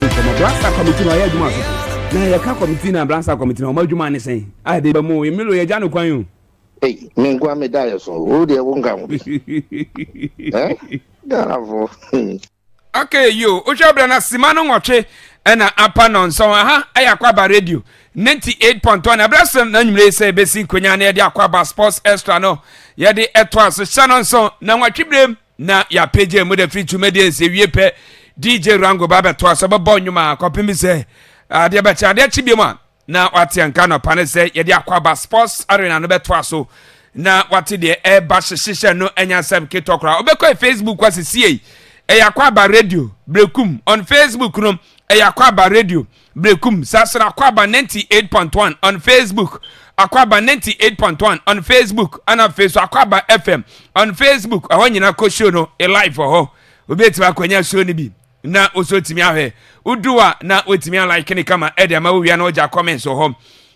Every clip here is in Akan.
nkɔmɔ bransa kɔmiti na ɔyɛ adwuma asofo na yɛka kɔmiti na bransa kɔmiti na wɔn adwuma ne sɛn a yɛde ba mu emilo yɛ gya no kwan o. Ei me nkoa me da yɛ so wo deɛ wo nka ho bi eh Ghanafo. Okay yo wohwɛ berɛ na sima no nwɔtwe ɛna apa nɔnsɔn aha ɛyɛ akwaba radio 98.1 ɛberɛ so na nwumire yi sɛ ɛbɛsi nkonya na yɛde akwaba sports extra no yɛde ɛtoa so hyɛ nɔnsɔn na nwɔtwe berɛ mu na yɛapagya mu da firi twumadie nsɛ wie pɛ dj rango ba bɛtoa sɛ bɛbɔ nnwom a kɔpem sɛ adeɛ bɛkye adeɛ kye biom a na wate nka nɔpa ne sɛ yɛde akɔ aba sports arena no bɛtoa so na wate deɛ ɛba hyehyehyɛ no anya sɛm ketɔ koraa wobɛkɔ facebook hɔ asesiei ɛyɛ akɔ aba radio brekum on facebook no ɛyɛ akɔ aba radio Berekum Saasere Akwaaba ninety eight point one on Facebook Akwaaba ninety eight point one on Facebook ɛna afei so Akwaaba FM on Facebook ɛhɔ nyinaa kɔ show no e live wɔ hɔ obi etumi akɔnya show no bi na nso etumi ahwɛ wodu a na wotumi alike ne kama ɛde ama wowia na wogya comments wɔ hɔ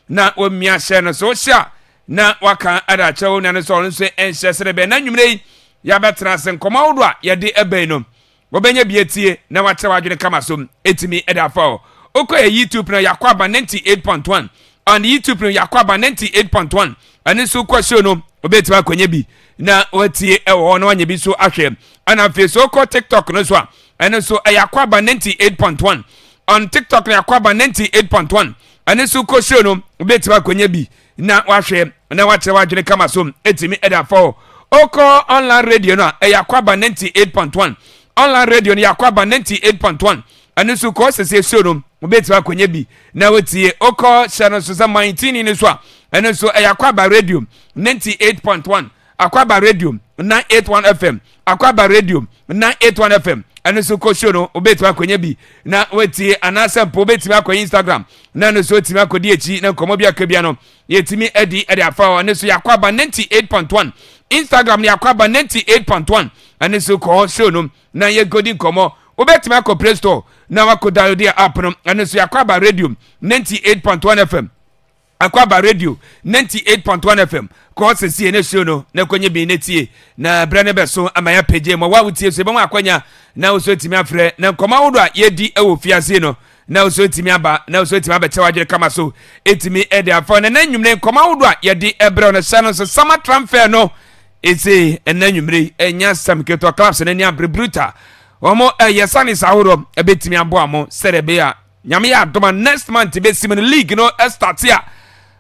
na wɔmmia hyɛ no so hyɛ a na waka ɛde akyerɛ wo nua no sɛ ɔno nso ɛnhyɛ sɛ de bɛn na nnwumire yi yɛabɛtena ase nkɔmɔ ahodoɔ a yɛde ɛbɛn no Wɔbɛnya bi atie na wɔakyerɛ wɔn adwene kama so. Etumi da afa hɔ. Wokɔ yɛ YouTube no a, yɛakɔ aba 98.1 on YouTube no yɛakɔ aba 98.1 ɛno nso kɔ show no wobɛtumi akɔnya bi na watie ɛwɔ hɔ na wanya bi so ahwɛ ɛna afei so wokɔ tiktok no so a ɛno nso ɛyɛ akɔ aba 98.1 on tiktok no yɛakɔ aba 98.1 ɛno nso kɔ show no wobɛtumi akɔnya bi na wahwɛ na wakyerɛ w'adwene kama so ɛtumi ɛde afa hɔ ɔkɔ online radio no a ɛyɛ akwaba 98.1 online radio no yɛ akwaba 98.1 ɛno nso kɔɔ sɛsɛ suo no wobɛtumi akɔnya bi na wotie ɔkɔ hyɛ no so sɛ man tini no so a ɛno nso ɛyɛ akwaba radio 98.1 akwaba radio nine eight one fm akwaba radio nine eight one fm ɛno nso kɔ show no wobɛtumi akɔnya bi na watie anaasɛ mpo wobɛtumi akɔ instagram na ɛno nso wotumi akɔdi akyi na nkɔmmɔ bi aka bia no yɛtumi adi ɛde afa hɔ ɛno nso yɛ akwaba ninety eight point one instagram no yɛ akwaba ninety eight point one ɛno nso kɔ hɔ show no na yɛnkɔdi nkɔmmɔ wobɛtumi akɔ play store na wakɔ download app no ɛno nso yɛ akwaba radio ninety eight point one fm Akwaba radio ninety eight point one fm kɔ sesie ne show no na kɔnye bi ne tie na berɛ no bɛso ama yɛapagye ma wo a wotie so yɛbɛma akwanya na wo so atumi afrɛ na nkɔmmɔ ahodoɔ a yɛdi wɔ fiase no na wo so atumi aba na wo so atumi abɛkyɛ w'adwene kama so atumi de afa na na nnwumire nkɔmmɔ ahodoɔ a yɛde ɛbrɛ no hyɛ no nso sama transfer no ɛsei ɛna nnwumire ɛnya sɛm ketewa clubs no ani abere bruta wɔn ɛyɛ sanis ahodoɔ ɛbɛtumi aboa mo sɛdeɛ ɛbɛyɛ a Nyame yɛ adom a next month bɛsi mu no league no start a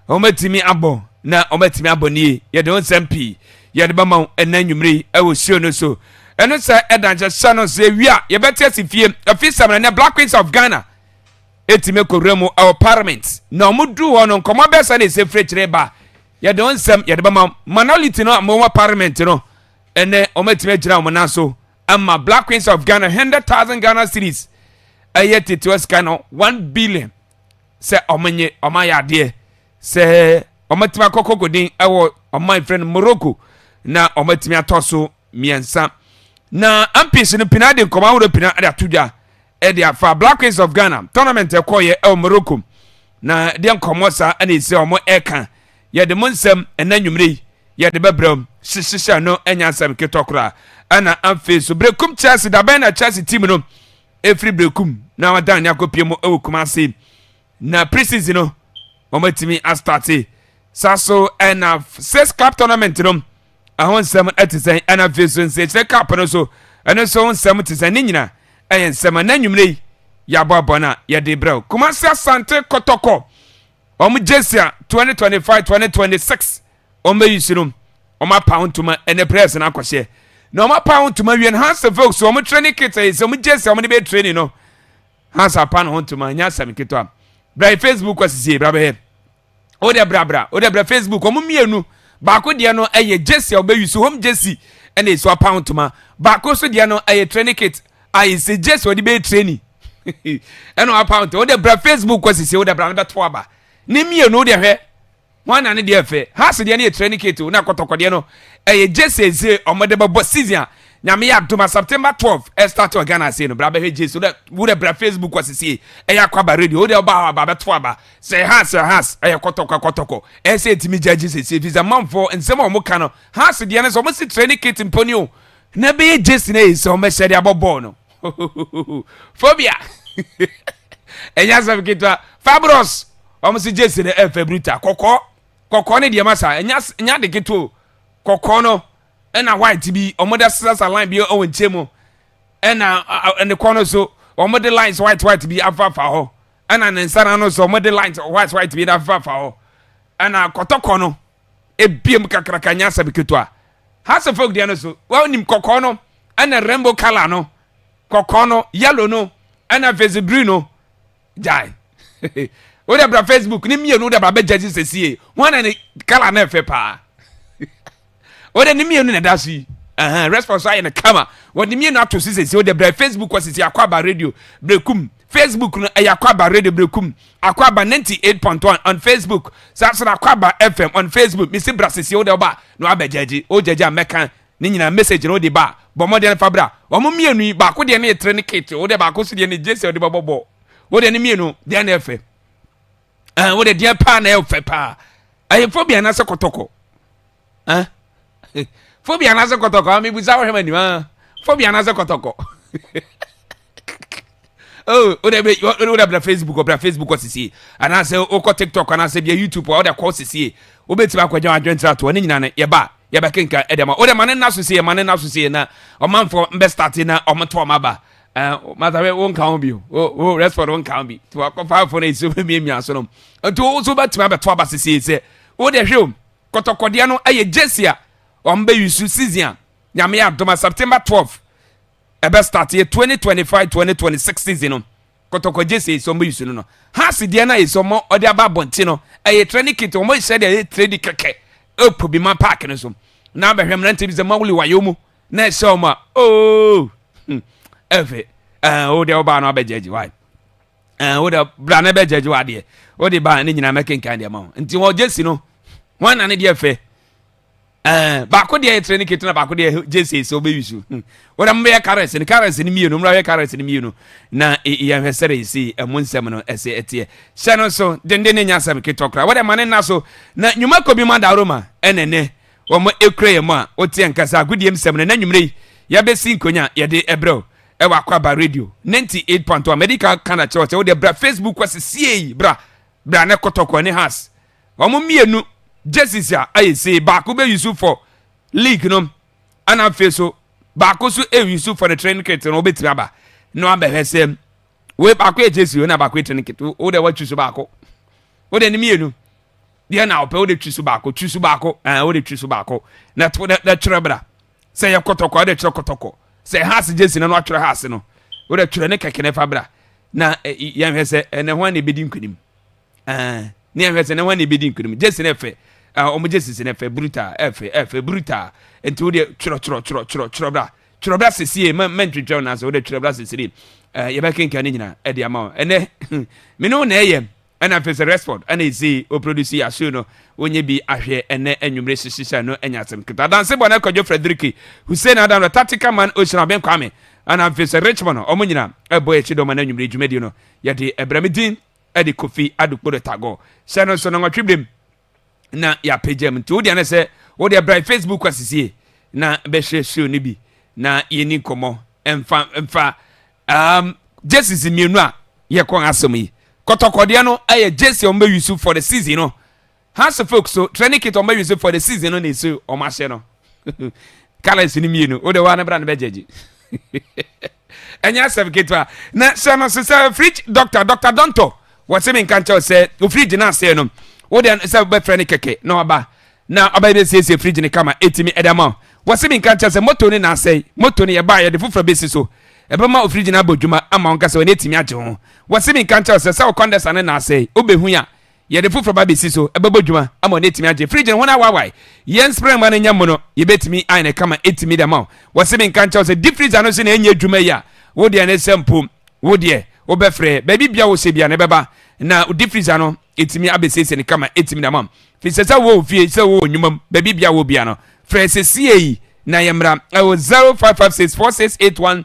wɔatumi abɔ na wɔatumi abɔ nie yɛde ho nsɛm pii yɛde bɛma wo ɛna anwummere yi ɛwɔ show no so ɛno sɛ ɛda nhyɛhyɛ no sɛ wie a yɛbɛte asi fie afei sɛm na ɛnɛ black queens of ghana ɛtumi akɔwura mu ɛwɔ parliament na wɔdu hɔ no nkɔmmɔ bɛɛ sɛ ne ɛsɛ firi kyerɛ ba yɛde ho nsɛm yɛde bɛma minority no a wɔwɔ parliament no ɛnɛ wɔatumi agyina wɔn nan so ama Black Queens of Ghana hundred thousand Ghana cedis ɛyɛ tetewa sika no one billion sɛ wɔn nye wɔn ayɛ adeɛ sɛ wɔn atumi akɔ kokodin ɛwɔ wɔn a efirɛ no Morocco na wɔn atumi atɔ so mmiɛnsa na MPs no pina de nkɔmɔ ahorow pina de ato dwa. ɛde afa black queens of ghana tournament ɛkɔɔyɛ ɛwɔ morocco na deɛ nkɔmmɔ saa ɛna ɛsi a wɔn ɛka yɛde mo nsɛm ɛna nwumire yi yɛde bɛbrɛ m hyehyɛ no ɛnyɛ asɛm ketɔ koraa ɛna afei so berekum chelsea dabɛn na chelsea team no ɛfiri berekum na wadan ne akɔpie mu ɛwɔ kuma ase na pre-season no wɔn atumi astate saa so ɛna six club tournament no Ɛho nsɛm te sɛn? Ɛna afei nso nsekyerɛ cup no nso, ɛno nso ho nsɛm te sɛn? Ne nyina ɛyɛ nsɛm a n'anwummerɛ yi yɛabɔ abɔ no a yɛde brɛ wo. Kumasi Asante Kɔtɔkɔ, wɔn jersey a 2025 2026 wɔn bɛyi si no, wɔn apa ho ntoma ɛnɛ press no akɔhyɛ. Na wɔn apa ho ntoma wie no, Hans Vokes wɔn training kit ɛyɛ sɛ wɔn jersey a wɔn de bɛyɛ training no, Hans apa no ho ntoma, ɛnyɛ asɛm ketewa. Bra yɛ Facebook asisie, bra bɛhɛ. o dɛ brabra o dɛ bra facebook wɔn mmienu baako deɛ no ɛyɛ jesi a ɔbɛyi so home jesi ɛna esu apaw ntoma baako nso deɛ no ɛyɛ training kit a esi jesi ɔde bɛyɛ training ɛna apaw ntoma o dɛ bra facebook kɔ sisi o dɛ bra no bɛto aba ne mmienu o dɛ hwɛ wɔn na ne deɛ fɛ house deɛ no yɛ training kit o na kɔtɔkɔ deɛ no ɛyɛ jesi esi wɔn de bɛbɔ season a nyame yɛ adoma september twelve ɛstart wɔ ghana ase no bra bɛhwɛ jesi o dɛ wo dɛ bra facebook kɔ sisi ɛyɛ akɔ aba radio o dɛ ɔba aba bɛto aba Sɛ Haas a Haas ɛyɛ kɔtɔkɔ kɔtɔkɔ ɛsɛ ɛtumi gya gye sɛsie fi sɛ manfoɔ nsɛm a wɔn ka no Haas deɛ no sɛ wɔn si training kit mpo ni o na ɛbɛyɛ gyesi na ɛyɛ sɛ wɔn bɛhyɛ de abɔ bɔɔl no phobia ɛnyɛ asɛm ketewa Fabros wɔn si gyesi no ɛfɛ bruta kɔkɔɔ kɔkɔɔ ne deɛ ma saa ɛnyɛ ɛnyɛ ade ketewa o kɔkɔɔ no ɛna white bi wɔn da sasa line bi ɛwɔ nkyɛn mu ɛna ne kɔn no so wɔn de lines white white bi afafa hɔ. Ɛna ne nsa no ano so wɔde lines white white bi afefafa hɔ. Ɛna kɔtɔkɔ no ebiem kakraka nyɛ asɛm ketewa. House of folk deɛ no so wɔnim kɔkɔɔ no ɛna rainbow colour no kɔkɔɔ no yellow no ɛna face green no gyae. Wode bra Facebook ne mmienu wode ba bɛgya si sɛsie ho ana ne colour no ɛfɛ paa. o de ne mmienu na ɛda so yi ɛhɛn response ayɛ no kama wɔde mmienu ato so sese o de brɛ facebook wɔ sese akɔ aba radio brekum facebook no ɛyɛ akɔ aba radio brekum akɔ aba ninety eight point one on facebook saa so na akɔ aba fm on facebook mesi bra sese o de ɔba na wabɛ gyɛgye o gyɛgye a mɛka ne nyinaa message no o de ba bɔ mmɔden no fa bra wɔn mmienu yi baako deɛ no yɛ tere ne kete o de baako so deɛ no gye sɛ o de bɛbɔ bɔ o de ne mmienu deɛ no yɛ fɛ. ɛn wode deɛ paa na ɛfɛ paa ɛyɛ phobia anaasɛ kɔtɔkɔ ɛn phobia anaasɛ kɔtɔkɔ ami busa wɔhwɛ ma nim ɛn phobia anaasɛ kɔtɔkɔ oh wode bɛ wode bla facebook ɔbla facebook ɔsisie anaasɛ wokɔ tiktok anaasɛ bia youtube a wode akɔ ɔsisie wobɛtumi akɔgya adwentena toɔ ne nyina no yɛba yɛbɛkenka ɛdɛma wode ma ne nna so sie ma ne nna so sie na ɔmanfoɔ mbɛstate na ɔmoto ɔma ba ɛɛ mata bɛ wo nka ho bi o o rɛsɔd wo nka ho bi ti wakɔ faafo na esi omi miamia so nom nti wo so bɛtumi abɛto aba sisi sɛ wo deɛ hwɛ o kɔtɔkɔdeɛ no ɛyɛ gyesi a wɔn bɛ yusu season a nyame adoma september twelve ɛbɛ start yɛ twenty twenty five twenty twenty six season no kɔtɔkɔ gyesi esi wɔn bɛ yusu no no haasi deɛ na esi wɔn ɔde aba abɔnten no ɛyɛ training kit wɔn ehyɛ deɛ ɛyɛ training kɛkɛ ɛkɔ bi ma paaki no so na abɛhwɛ mmerante bi sɛ mawuli wayo mu. na ɛsɛ ɔmo a ooo hmm, ɛfɛ ɛɛ eh, wo deɛ ɔbaa no abɛ gyɛgye wae ɛɛ eh, wo deɛ bra na ɛbɛ gyɛgye wa deɛ wo de baa ne nyinaa mɛkenkan deɛ ma ho nti wɔ gyesi no wɔn na ne deɛ fɛ ɛɛ eh, baako deɛ yɛ tire ne kete na baako deɛ gyesi sɛ ɔbɛ wisu hmm. wo deɛ mo bɛyɛ karɛs ne karɛs ne mmienu mo bɛyɛ karɛs ne mmienu na yɛn hwɛ sɛre si ɛmo nsɛm no ɛsɛ ɛteɛ hyɛ no so denden ne nya asɛm ketɔ kora wɔ deɛ ma ne nna so na nnwuma kɔ bi ma dawuro ma ɛnɛnɛ wɔn kura yɛn mu a woteɛ nka sɛ agodie nsɛm no na nwummerɛ yi yɛbɛsi nkonya yɛde ɛbrɛ o ɛwɔ akwaba radio 98.1 mɛdi ka ka na kyerɛ sɛ wode bra facebook kɔ sɛ siei bra bra ne kɔtɔkɔ ne has wɔn mmienu jesus a ayɛ sei baako bɛ yusu fɔ league nom ɛna afei so baako so ɛyusu fɔ ne train kit no wobɛtumi aba na wabɛhwɛ sɛ wei baako yɛ jesus na baako yɛ train kit wo dɛ watwi so baako wo dɛ ne mmienu deɛ na ɔpɛ wode twi so baako twi so baako ɛɛ wode twi so baako na to na na twerɛ bra sɛ yɛ kɔtɔkɔ wode twerɛ kɔtɔkɔ sɛ haase gyesi na na watwerɛ haase no wode twerɛ ne kɛkɛ na fa bra na yɛn hwɛ sɛ ɛnɛ ho ani ebedi nkunim ɛɛ ne yɛn hwɛ sɛ ɛnɛ ho ani ebedi nkunim gyesi na ɛfɛ ɛɛ wɔn gyesi si na ɛfɛ bruta ɛfɛ ɛfɛ bruta nti wode twerɛ twerɛ twerɛ twerɛ twerɛ bra twerɛ bra sesie mɛ mɛ ntwitwɛw na sɛ wode twerɛ bra sesie ɛɛ yɛbɛkenkan ne nyinaa ɛde ama wɔn ɛnɛ mene wɔn na ɛyɛ. Ɛna Pese Resford ɛna esii o produce yi aso no wonyɛ bi ahwɛ ɛnɛ anwummere hyehyɛ no anya asɛm ketewa adanse bɔ na Kwadwo Fredericky Hussein Adam na Tactical Man Ohyira Ben Kwame ɛna afei sɛ Richmond no ɔmo nyina ɛbɔ akyi dɔma na anwummere dwumadie no yɛde ɛbrɛ me din ɛde Kofi Adokpodo Tagor hyɛ no nso no nwɔtwe berɛ mu na yɛapagya mu nti wo deɛ no sɛ wo deɛ bra facebook asisie na bɛhwɛ show no bi na yɛni nkɔmmɔ mfa mfa um, jerseys mmienu a yɛkɔ asɛm yi kɔtɔkɔdeɛ no ɛyɛ jersey ɔmbɛ use for the season no house folks so training kit ɔmbɛ use for the season no na ɛsɛ ɔmahyɛ no colours no mmienu wode hɔ a ne bra no bɛgyagye ɛnyɛ asɛm ketewa na hyɛ no so sɛ fridge doctor doctor dɔntɔ wɔse me nka nkyɛw sɛ ofridge no aseɛ no wode sɛ wobɛfrɛ no kɛkɛ na waba na ɔbɛyɛ bɛsiesie fridge no kama ɛtumi ɛda ma wɔse me nka nkyɛw sɛ moto no na asɛe moto no yɛbaa yɛde foforɔ bɛsi so ɛbɛma ofridge no abɔ dwuma ama wo nka sɛ wɔne ɛtumi agye ho wɔse me nka nkyɛw sɛ sɛ wo kɔndɛsa no na asɛe wobɛhu a Yɛde foforɔ ba bɛsi so, ɛbɛbɔ dwuma ama wo na atumi agye. Fridge no ho no awaawae. Yɛn spring mma no anya mono, yɛbɛtumi ayɛ no kama atumi de ama wo. Wɔse menka nkyɛ wo sɛ deep freezer no se na ɛnyɛ adwuma yi a, wo deɛ ne sɛ mpo wo deɛ wobɛfrɛ baabi bia wo sɛ bia na ɛbɛba na deep freezer no ɛtumi abɛsiesie no kama ɛtumi de ama wo. Firi sɛ sɛ wowɔ ofie, sɛ wowɔ nnwuma mu, baabi bia wɔ bia no, frɛ sesie yi na yɛmmra ɛwɔ 0556 4681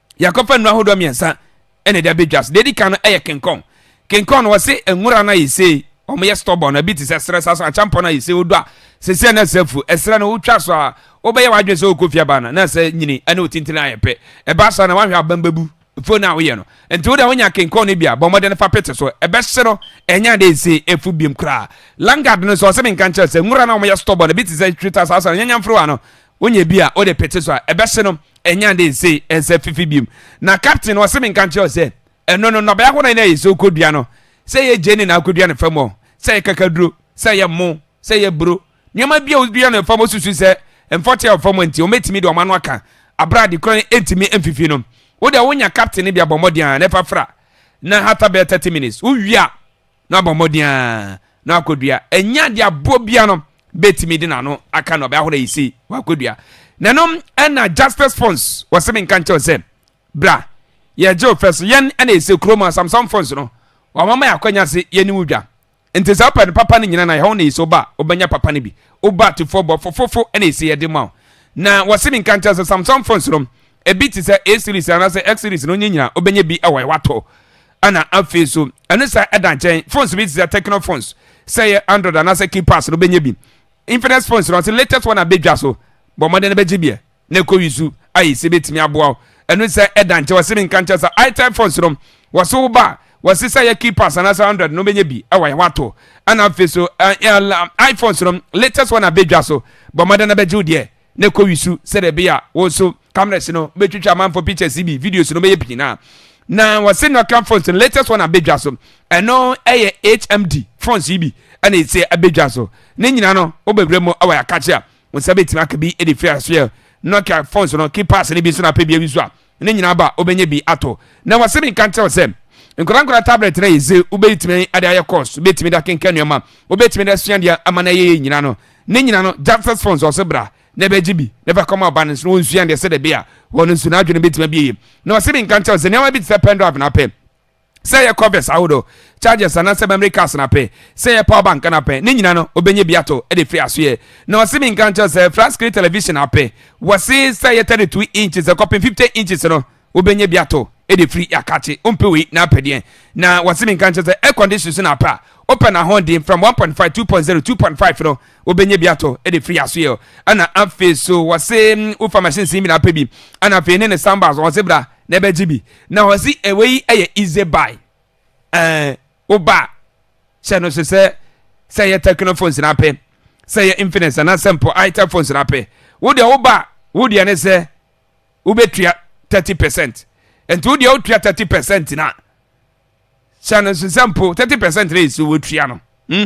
Yɛakɔfa nnuro ahodoɔ mmiɛnsa na ɛde abɛdwa so. Deɛ ɛdi kan no yɛ kenkɔn. Kenkɔn no wɔse nwura no ayɛ sei, wɔyɛ stubborn, ɛbi te sɛ serɛ saa nso akyampɔn no ayɛ sei, wodɔ a sɛsi a na ɛsɛ afu. Ɛserɛ no wotwa so a, wobɛyɛ w'adwene sɛ wokɔ fie aba ana, na ɛsɛ nyini ne wo tintini ayɛ pɛ. Ɛba saa na woanhwɛ a abam bɛbu afuo no a woyɛ no. Nti wo deɛ wonya kenkɔn no bi a, bɔ mmɔden fa pete so, ɛbɛhye no ɛnyɛ ade a ɛsɛ afu biom koraa. Lungard no nso wɔse menka nkyerɛ sɛ nwura no a wɔyɛ stubborn, ɛbi te sɛ twita saa nso a nyanyamforowa no Wonya bi a, wode pete so a, ɛbɛhye no, ɛnyɛ ade nsei, ɛnsɛ fifi biom. Na captain no, ɔse menka nkyerɛ wo sɛ, ɛno no, nnɔbae ahorow na yɛsɛ wokɔdua no, sɛ ɛyɛ gyeene na wokɔdua no fam hɔ, sɛ ɛyɛ kakaduro, sɛ ɛyɛ mmo, sɛ ɛyɛ buro, nneɛma bi a wodua no fam, wosusu sɛ mfɔte a ɛwɔ fam hɔ nti, wɔbɛtumi de wɔn ano aka, bere a ade koraa ntumi mfifi no. Wo deɛ, wonya captain no bi a, bɔ mmɔden ara na fa fra, na hata bɛyɛ thirty minutes, wowie a, na ɔbɔ mmɔden ara na wakɔdua. Ɛnyɛ adeɛ a boɔ biara no bɛtumi de n'ano aka no, ɔbɛahoro ayi sei, wakɔdua. Na ɛno na Jasper's Phones wɔse menka nkyɛ wo sɛ, bra, yɛregye wo fɛ so. Yɛn na yɛsɛ kurom a Samsung Phones no, wɔama ma yɛ akwanya se yɛne wo dwa. Nti sɛ wopɛ no papa no nyina na yɛhɔ wo na yɛsɛ wo ba a, wobɛnya papa no bi. Wo ba tefoɔ bɔ fofofo na yɛsɛ yɛde ma wo. Na wɔse menka nkyɛ wo sɛ Samsung Phones no, ebi te sɛ A-Series anaasɛ X-Series no, wonyɛ nyina wobɛnya bi wɔ yɛ, watɔ. ɛna afei so ɛno sɛ ɛda nkyɛn phones bi te sɛ techno phones sɛ yɛ android anaasɛ keypass no bɛnya bi infinix phones no ɔsɛ latest one abɛdwa so bɔ mmɔden no bɛgye biɛ na ɛkɔ yi su ayɛ sɛ bɛtumi aboa wo ɛno sɛ ɛda nkyɛn wɔse me nka nkyɛn sɛ itel phones no wɔse wo ba wɔse sɛ yɛ keypass anaasɛ android no bɛnya bi ɛwɔ yɛ wato ɛna afei so iphones no latest one abɛdwa so bɔ mmɔden no bɛgye wo deɛ na kɔ wi su sɛdɛ bia wo so cameras no bɛ twitwa amanfo pictures bi videos no bɛyɛ pii naa na wɔ se Nokia phones no latest one abɛ dwa so ɛno ɛyɛ HMD phones yi bi ɛna ɛsɛ abɛ dwa so ne nyina no wo bɛ wura mu ɛwɔ yakakyɛ a wo nsa bɛ timi aka bi ɛde firi asoɛ Nokia phones no keypads no bi nso na apɛ bi awi so a Ne nyinaa ba a, wobɛnya bi atɔ. Na wɔase menka nkyerɛ wo sɛ, nkwadaa nkwadaa tablet no a yɛ dze wobɛtumi de ayɛ course, wobɛtumi de akenkan nneɛma, wobɛtumi de asua deɛ ama no ayɛ yie nyinaa no, ne nyinaa no, Justice Funds wɔse bra na bɛgye bi na fa kɔma ɔba no nso na ɔnsua deɛ sɛdeɛ ɛbɛyɛ a wɔn nso n'adwene bɛtumi abie yie. Na wɔse menka nkyerɛ wo sɛ nneɛma bi te sɛ pendrive na apɛ. Sɛ yɛ Corvettes ahodoɔ, Chargers anaa sɛ Memory cars no apɛ, sɛ yɛ Power bank no apɛ, ne nyina no obɛnya bi atɔ de firi asoɛ. Na ɔse me nka nkyerɛ wo sɛ flat screen television apɛ, wɔse sɛ yɛ 32 inches de kɔpem 50 inches no wobɛnya bi atɔ de firi Yɛakakye. Wompɛ wei na apɛ deɛn? Na wɔse me nka nkyerɛ wo sɛ air condition nso na apɛ a, wopɛ no ahoɔden from 1.5, 2.0, 2.5 no wobɛnya bi atɔ de firi asoɛ. Ɛna afei so wɔse wofa machines no nyina apɛ bi, ɛna afei ne ne soundbars wɔse bra na ɛbɛgye bi na ɔsi ɛwɛ yi ɛyɛ easy buy ɛɛ woba hyɛ no so sɛ sɛ ɛyɛ techno phones na apɛ sɛ ɛyɛ infinix anaasɛ mpo itel phones na apɛ wo deɛ woba wo deɛ ne sɛ wobɛtua thirty percent nti wo deɛ wotua thirty percent na hyɛ no so sɛ mpo thirty percent na ɛsi wotua no hmm?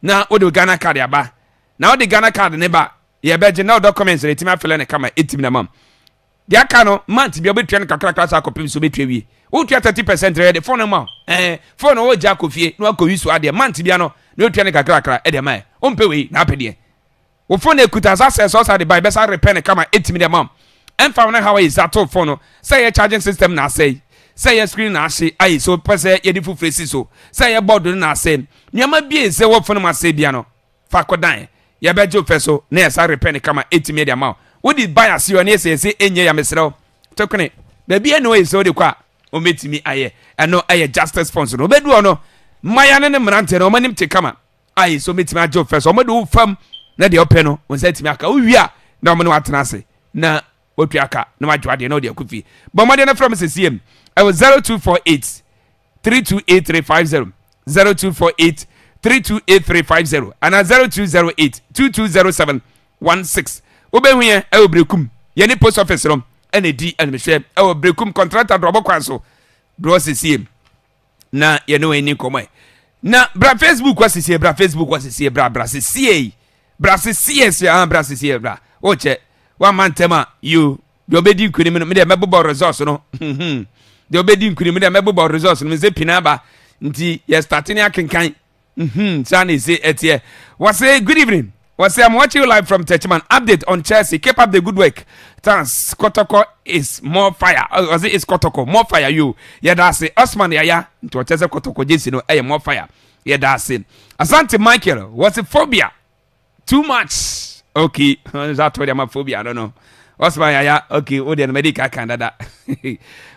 na wode ghana card aba na wode ghana card ne ba yɛbɛgye na wo documents na ɛtumi afɛlɛ ne kama ɛtumi na mam Deɛ aka no, month bia wobɛtua no kakrakra saa kɔpem sɛ wobɛtua awie. Wotua thirty percent na yɛde phone no ma wo. Ɛɛ phone no wogya akɔ fie na wakɔ use adeɛ. Month bia no na wotua no kakrakra de ma yɛ. Wompɛ wei na wopɛ deɛn? Wo phone ɛkuta as access a wosan de bae bɛsan repair no kama ɛtumi de ma wo. Ɛmfa ho ne how a yɛsisa too phone no, sɛ ɛyɛ charging system na asɛe, sɛ ɛyɛ screen na ahye aye sɛ wopɛ sɛ yɛde foforɔ si so, sɛ ɛyɛ board no na asɛe. Nneɛma bia ɛsɛ wɔ phone mu asɛe bia no, Fa kɔ dan, yɛbɛgye wo fɛ so na yɛasa repɛ no kama atumi de ama wo. Wode bae ase hɔ ne asiesie nnye ya mesrɛ wo to kene. Baabi a na wɔyi sɛ wode kɔ a wɔbɛtumi ayɛ ɛno yɛ Justice Fonso no. Wobɛdu hɔ no, mmayewa no ne mmeranteɛ no wɔanim te kama a ɛyi sɛ wɔbɛtumi agye wo fɛ so. Wɔde wo fam na deɛ wopɛ no wo nsa atumi aka. Wowie a na wɔne wo atena ase na wɔatua ka na wɔagye wo adeɛ na wɔde akɔ fie. Bɔ mmɔden na frɛ me sesiem ɛwɔ 0248 three two eight three five zero zero two four eight three two eight three five zero ana zero two zero eight two two zero seven one six wobɛhu yɛn ɛwɔ berekum yɛn ne post office no ɛna edi animhwɛ ɛwɔ berekum kɔntrata dorɔbɔ kwan so dorɔ sisiem na yɛne wɔn ani nkɔmɔ yi na bra facebook wa sisie bra facebook wa sisie bra bra sisie bra sisie sia bra sisie bra wɔkyɛ wɔn amantam a yoo. Deɛ ɔbɛdi nkunim no, me deɛ mɛbobɔ results no. Deɛ ɔbɛdi nkunim no, deɛ mɛbobɔ results no. Me sɛ pina aba. Nti yɛ start ne akenkan. Hmm, saa na ɛsɛ ɛteɛ. Wɔsɛ good evening. Wɔsɛ I'm watching you live from Techiman. Update on Chelsea. Keep up the good work. Thanks. Kotoko is more fire. Wɔsɛ oh, is Kotoko more fire you. Yɛda ase. Osman Yaya. Nti wɔkyɛ sɛ Kotoko gyesi no ɛyɛ more fire. Yɛda ase. Asante Michael. Wɔsɛ phobia. too much okay nsa to deɛ ma phobia no no ɔsoma yaya okay wo deɛ no mɛde ka kan dada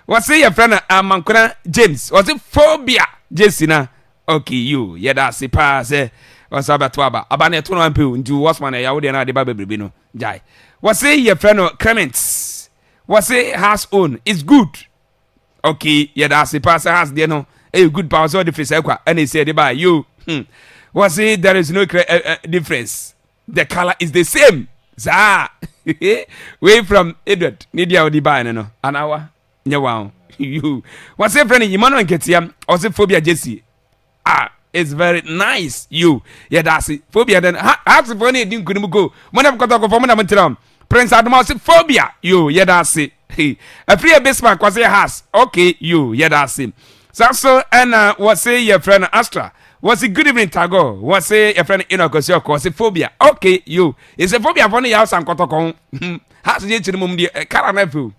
wɔse yɛfrɛ no amankona james wɔse phobia jesi na okay yo yɛda ase paa sɛ ɔsa bɛto aba aba no ɛto no ampɛ o nti wɔsoma no ɛya wo deɛ no ade ba bebrebe no gyae wɔse yɛfrɛ no crements wɔse has own is good okay yɛda ase paa sɛ has deɛ no ɛyɛ good paa sɛ ɔde firi saa kwa ɛna ɛsɛ ɛde baa yo hmm. wɔse there is no clear, uh, uh, difference the color is the same saa wei from edward ne deɛ ɔde baa no no anawa nyɛ wa ho yo wɔse frɛ no yima no nketeam ɔse phobia jesi Ah it's very nice yo yɛda ase phobia dɛn ha hearts fo na yɛdi nkunim go mo ne kɔtɔkɔ fam na mo tira m prince adoma ɔse phobia yo yɛda ase hey afiri yɛ bismark ɔse yɛ hearts okay yo yɛda ase saa so ɛna wɔse yɛfrɛ no astra wɔse good evening tago wɔse yɛfrɛ no enoch ɔse ɔkɔ ɔse phobia okay yo ɛsɛ phobia fo no yɛ asan kɔtɔkɔ ho hearts yɛ kyiri mom deɛ kara na afeo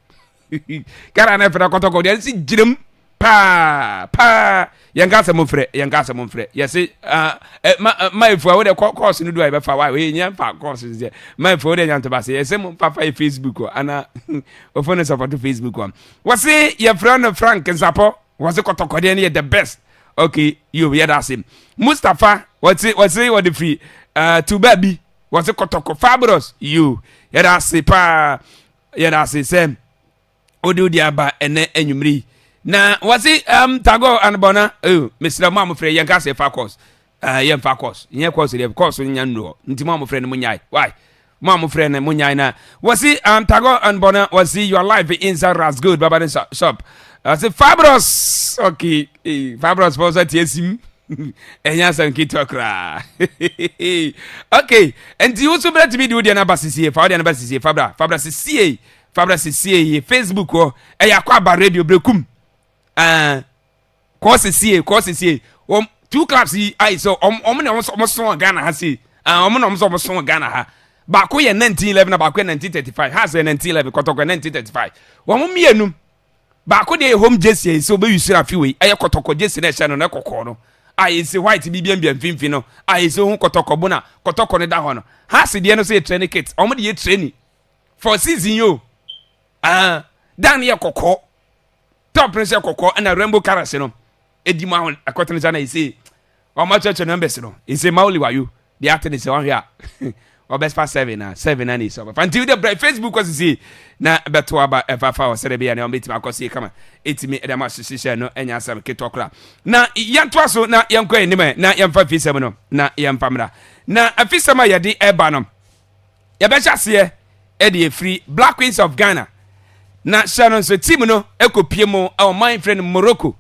Ghana na ɛfrɛ kɔtɔkɔ deɛ nsi gyinam paa paa yɛn ka asɛm mfrɛ yɛn ka asɛm mfrɛ yɛsi ma ma efua wo de kɔ kɔɔso no do a yɛbɛfa wa yɛ nyɛ nfa kɔɔso no sɛ ma efua wo de nyante ba se yɛsi mo nfa fa yɛ facebook hɔ ana ofo ne sɔpɔto facebook hɔ wɔsi yɛfrɛ no frank nsapɔ wɔsi kɔtɔkɔ deɛ no yɛ the best okay yo yɛ da ase mustapha wɔsi wɔsi wɔde firi uh, tuba bi wɔsi kɔtɔkɔ fabros yo yɛ da ase paa. Yɛda ase sɛ wode wodi aba ɛnɛ anwummere yi. Na wɔse um, Tagore anobɔna oh, mesrɛ mo a mofrɛ yɛnka sɛ fa course uh, yɛmfa course nyɛ course deɛ course nya nnu hɔ nti mo a mofrɛ no monyae why mo a mofrɛ no monyae na wɔse um, Tagore anobɔna wɔse your life inside ras good baba ne shop ɔse fabros ok fabros fɔ sɛ teɛ sim ɛnyɛ asɛm ketewa koraa ok nti wo so bɛtumi de wo deɛ no aba sesie fa wo deɛ no ba sesie fabra fabra sesie fabra sesie yɛ facebook hɔ ɛyɛ akɔ aba radio berɛkum uh, kɔɔ sesie kɔɔ sesie wɔm two clubs yi ayi sɛ ɔm ɔm na ɔm sɔn ghana ha sei uh, ɔm na ɔm sɛ ɔm sɔn ghana ha baako yɛ 1911 na baako yɛ 1935 ha sɛ 1911 kɔtɔkɔ 1935 wɔn mmienu Baako deɛ yɛ home gyesi a yɛsɛ ɔbɛyusiri afe wei, ɛyɛ kɔtɔkɔ gyesi na ɛhyɛ no no kɔkɔɔ no a yɛsɛ white bi biambia mfimfini no a yɛsɛ ho kɔtɔkɔ bo na kɔtɔkɔ no da hɔ no. Hase deɛ no sɛ yɛ training kit, wɔn de yɛ training for season yo. Ah, dan no yɛ kɔkɔɔ, top no sɛ kɔkɔɔ ɛna rainbow colors no. edi mu ahon ɛkɔtene sa na ese wɔn akyerɛkyerɛ numbers no ese ma oli wayo de ate ne sɛ wɔn hwɛ a ɔbɛfa seven na seven na ne sɛ ɔbɛfa nti de brɛ facebook kɔ sisi na bɛto aba ɛfafa wɔ sɛde bɛyɛ na wɔn bɛtumi akɔ sie kama etimi ɛde ama hyehyɛ no ɛnya asɛm ketewa kora na yɛntoa so na yɛnkɔ anim na yɛmfa fisɛm no na yɛmfa mmra na afisɛm a yɛde ɛba no yɛbɛhyɛ aseɛ ɛde afiri Black Queens of Ghana na hyɛ no nso team no ɛkɔpie mu ɔman eh, frɛ no Morocco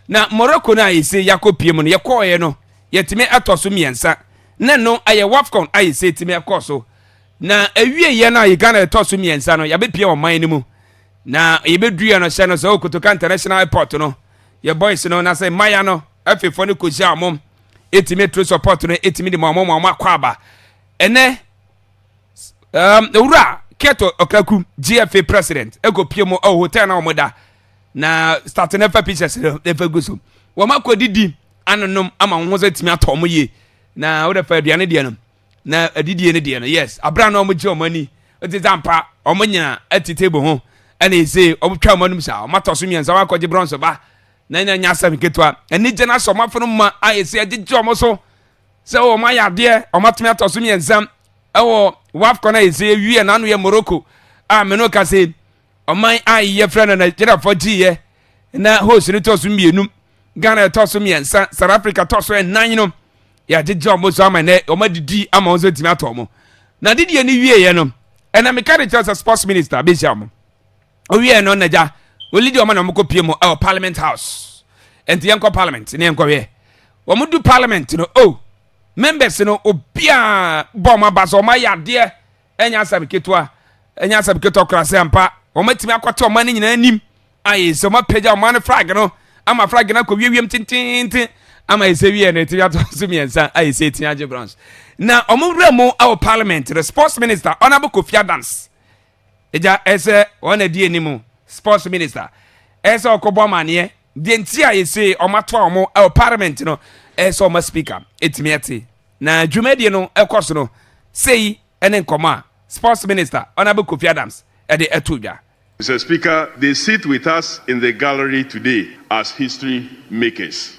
na Morocco no a yɛsɛ yɛakɔpie mu no yɛkɔɔeɛ no yɛtumi ɛtɔ so mmiɛnsa na no ɛyɛ WAFCON a yɛsɛ yɛtumi ɛkɔɔ so na awieɛ no a yɛ Ghana ɛtɔ so mmiɛnsa no yɛbɛpie ɔman no mu na yɛbɛduiɛ no hyɛ no sɛ Kotoka International Airport no yɛ boys no na sɛ mmaya no afefoɔ no kɔhyia ɔmom ɛtumi tro support no ɛtumi de ma ɔmom ɔmo akɔ aba Ɛnnɛ, um, Owura Kurt Okaku, GFA president, ɛkɔ pie mu ɛwɔ hotel na wɔn da na start na ɛfa pictures no ɛfa gu so. Wɔn akɔ didi anonom ama wɔn ho sɛ tumi atɔ wɔn yie na wɔde fa aduane deɛ no na adidie no deɛ no yes abira na wɔn gye wɔn ani ɛte sɛ ampa wɔn nyina ɛte table ho ɛna ese wɔn twa wɔn anum saa wɔn atɔ so mmiɛnsa wɔn akɔgye bronze ba na ɛna nya asɛm ketewa anigye na sɛ wɔn afɔ no ma a ese ɛgyegye wɔn so. sɛ wɔn ayɛ adeɛ wɔn atumi atɔ so mmiɛnsa ɛwɔ wafcon a yɛsɛ yɛwie n'ano yɛ morocco a me no ka sɛ ɔman a yɛfrɛ no nigeriafoɔ gyeeɛ na host no tɔ so mmienu ghana ɛtɔ so mmiɛnsa south africa tɔ so ɛnan no yɛagyegye wɔn so ama nɛ wɔn adidi ama wɔn so atumi atɔ wɔn na didiɛ no wieɛ no ɛna meka de kyerɛ sɛ sports minister bɛhyia wɔn Owiee no n'agya Olidi ɔma na wɔn kɔ pie mu ɛwɔ parliament house. Ɛnti yɛn kɔ parliament ne yɛn kɔ hwɛ. Wɔn du parliament no oh members no obiara bɔ wɔn aba sɛ wɔn ayɛ adeɛ ɛnyɛ asɛm ketewa ɛnyɛ asɛm ketewa kora sɛ mpa wɔn atumi akɔte wɔn ani nyinaa anim ayɛ sɛ wɔn apagya wɔn ano flag no ama flag no akɔ wiewiem tententen ama ɛsɛ wie no ɛtumi ato so mmiɛnsa ayɛ sɛ ɛtumi agye bronze na wɔn wura mu ɛwɔ parliament no sports minister honourable Kofi Adams. Agya, ɛsɛ wɔn na di anim, sports minister. Ɛsɛ ɔkɔbɔ amaneɛ. Deɛ nti a yɛse wɔn ato a wɔn ɛwɔ parliament no, ɛsɛ wɔn ma speaker ɛtumi ɛte. Na dwumadie no ɛkɔ so no, sei ɛne nkɔmɔ a sports minister Honourable Kofi Adams ɛde ɛto dwa. Mister Speaker, they sit with us in the gallery today as history makers.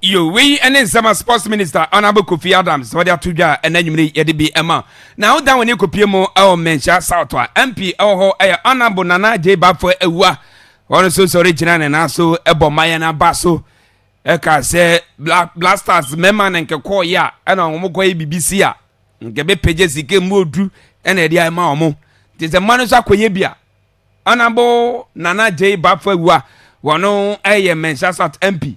Yo, wei ne nsɛm a sports minister honourable kofi adams wɔde ato dwa a ɛna anwumere yi yɛde bi ma na wodan wɔn akɔpie mu ɛwɔ mmɛnhyia south a mp ɛwɔ hɔ ɛyɛ honourable nana gye bafo awua wɔn nso sɔre gyina ne nan so ɛbɔ mmayɛ no aba so ɛka sɛ blasters mmarima no nkɛkɔɔ yɛ a ɛna wɔn kɔ yɛ biribi si a nkɛbɛpɛgye sika mu odu ɛna ɛde ayɛ ma wɔn nti sɛ mma no nso akɔyɛ bi a honourable nana gye bafo awua wɔn ɛyɛ mmɛnhyia south mp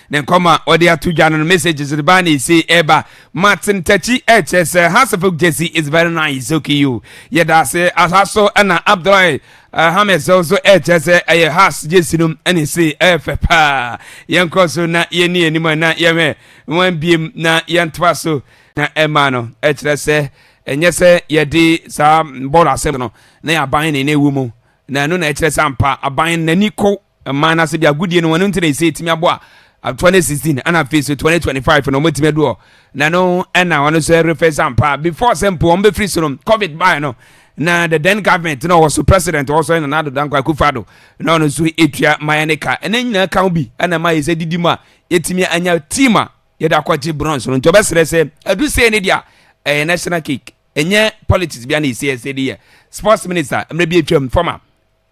Ne nkɔm a ɔde ato dwa no no messages no baa na ese ɛba ma te ntakyi ɛkyɛ sɛ Hasefuk Jesse is very nice soki you yɛda ase aha so ɛna Abdullahi uh, Hamed so so ɛkyɛ sɛ ɛyɛ Has Jesse no ɛna ese ɛfɛ paa yɛnkɔ so na yɛni anim na yɛhwɛ wɔn biem na yɛntoa so na ɛma no ɛkyerɛ sɛ ɛnyɛ sɛ yɛde saa bɔɔl asɛm no na yɛaban ne na ewu mu na ɛno na ɛkyerɛ sɛ ampa aban n'ani kɔ mmaa no ase de agodie no wɔn nti na ɛsɛ ɛtumi abɔ a uh, twenty sixteen ɛna afei so twenty twenty five na wɔn atumi adu hɔ na no ɛna wɔn nso refɛ sampa before sɛ mpo wɔn bɛfiri so no covid baa no na the then government na ɔwɔ so president ɔwɔ so ɛna n'ado danko akufa do na ɔno nso etua maya ne ka ɛna nyinaa kan bi ɛna mmaa yɛ sɛ didi mu a yɛtumi anya team a yɛde akɔgye bronze no nti ɔbɛsrɛ sɛ adu sɛ ne deɛ ɛyɛ national cake ɛnyɛ politics bi a na ɛsi ɛsɛ de yɛ sports minister mmerɛ bi atwam former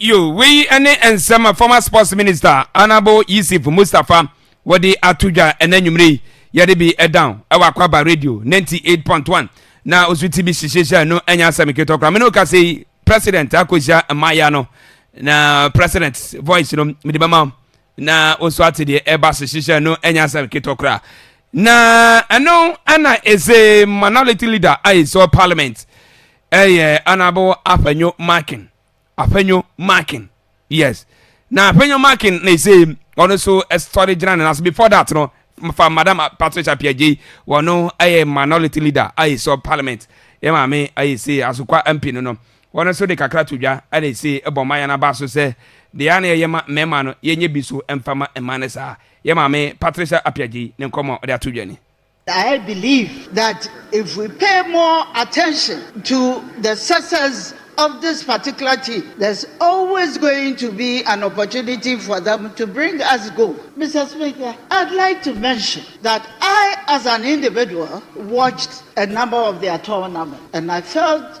Yo, Wei ne nsɛm a former sports minister Honourable Yisif Mustafa wɔde ato dwa ɛna anwummere yi yɛde bi ɛdan ɛwɔ Akwaba radio 98.1 na ɔso ti bi hyehyɛhyɛ no ɛnyɛ asɛm ketɔ koraa mene ɔka sɛ president akɔhyia mmaayɛ no na president voice no mede bɛma Na wo nso ate deɛ ɛba so hyehyɛ no ɛnyɛ asɛm ketewa koraa. Na ɛno ɛna ɛsɛ minority leader a ɛsɛ parliament ɛyɛ honorable Afenyo Markin. Afenyo Markin. Yes. Na Afenyo Markin na ɛsɛ ɔno nso ɛsɔre gyina ne naso before that no fa madam Patricia Piagyei wɔno ɛyɛ minority leader a ɛsɛ parliament. Yɛ maame ɛyɛ sɛ asokwa MP no no. Wɔn nso de kakra to dwa na ese bɔ mma yɛn aba so sɛ deɛ a na yɛyɛ ma mmarima no yɛnyɛ bi so mfa ma mmaa no saa. Yɛn maame Patricia Appiagyei ne nkɔmmɔ a ɔde ato dwa ni. I believe that if we pay more attention to the success of this particular team, there's always going to be an opportunity for them to bring us gold. Mister Speaker, I'd like to mention that I as an individual watched a number of their tournaments and I felt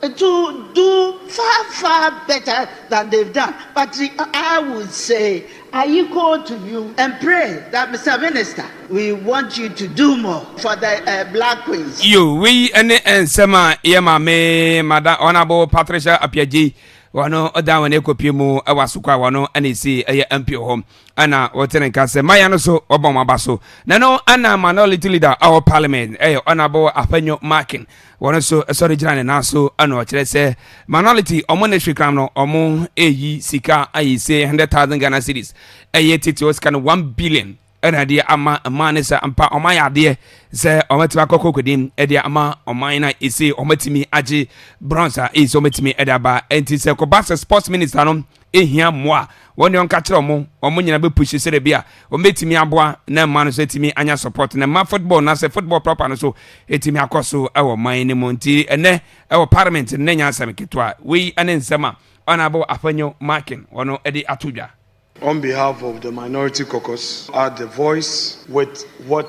To do far far better than they've done but I would say ayiko to you and pray that Mister Minister we want you to do more for the black queens. Iyo, wei ne nsɛm a yɛ maame Madam Honourable Patricia Appiagyei wɔn dan wɔn akɔpie mu wɔ asoko a wɔn na ɛsi ɛyɛ MPO hɔ. Ɛna wɔte ne nka sɛ maya no so wɔbɔ wɔn aba so. Na no ɛna minority leader a wɔ parliament ɛyɛ honourable Afenyo Markin wɔn nso sɔre gyina ne nan so ɛna ɔkyerɛ sɛ minority wɔn ne hwekram no wɔn ɛyi sika ayi se hundred thousand Ghana cedis ɛyɛ titi wɔ sika no one billion ɛna ɛde ama mmaa ne sɛ mpa wɔn ayɛ adeɛ sɛ wɔn atumi akɔ kɔkɔdim ɛde ama ɔman na ɛsɛ wɔn atumi agye bronze a ɛyi sɛ wɔn atumi ɛde aba ɛnti sɛ kɔba sɛ sports minister no hia mmoa a, wɔn deɛ ɔnka kyerɛ wɔn, wɔn nyinaa bɛ push sɛ dɛbi a, wɔn bɛtumi aboa na mmaa no nso atumi anya support na mmaa football anaasɛ football proper no nso atumi akɔ so wɔ man no mu. Nti ɛnɛ wɔ parliament no na nyɛ asɛm ketewa. Wei ne nsɛm a Honourable Afenyo Markin wɔn de ato dwa. On behalf of the Minority Caucus, add the voice with what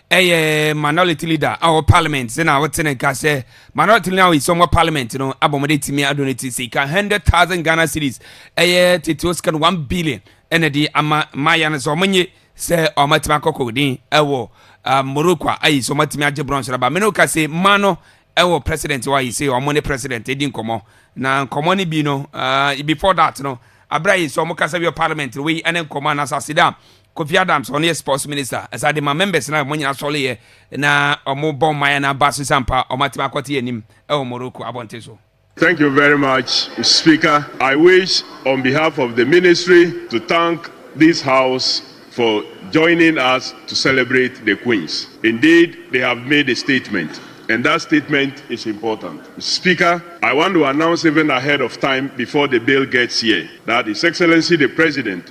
ɛyɛ minority leader a ɔwɔ parliament sɛ na ɔte ne nka sɛ minority leader a ɔyɛ wɔ parliament no abɔ mo de tumi ado ne ti sika hundred thousand ghana cedis ɛyɛ tete o sika no one billion ɛna de ama mmaayɛ no sɛ ɔmo nye sɛ ɔmo atumi akɔkɔ den ɛwɔ ah, morocco a ayi sɛ ɔmo atumi agye bronze no ba mene oka sɛ mma no ɛwɔ president wɔ ayi sɛ ɔmo ne president edi nkɔmɔ na nkɔmɔ no bi no ah, before that no abira yi sɛ ɔmo kasa bi wɔ parliament no wei ɛne nkɔmɔ anasase da Kofi Adams ɔno yɛ sports minister ɛsa de ma members na ɔmo nyina sɔle yɛ na ɔmo bɔ mmaeɛ na aba so sɛ ampa ɔmo atimi akɔte yɛ anim ɛwɔ Morocco abɔnten so. Thank you very much speaker I wish on behalf of the ministry to thank this house for joining us to celebrate the queens indeed they have made a statement and that statement is important speaker I want to announce even ahead of time before the bill gets here that his excellency the president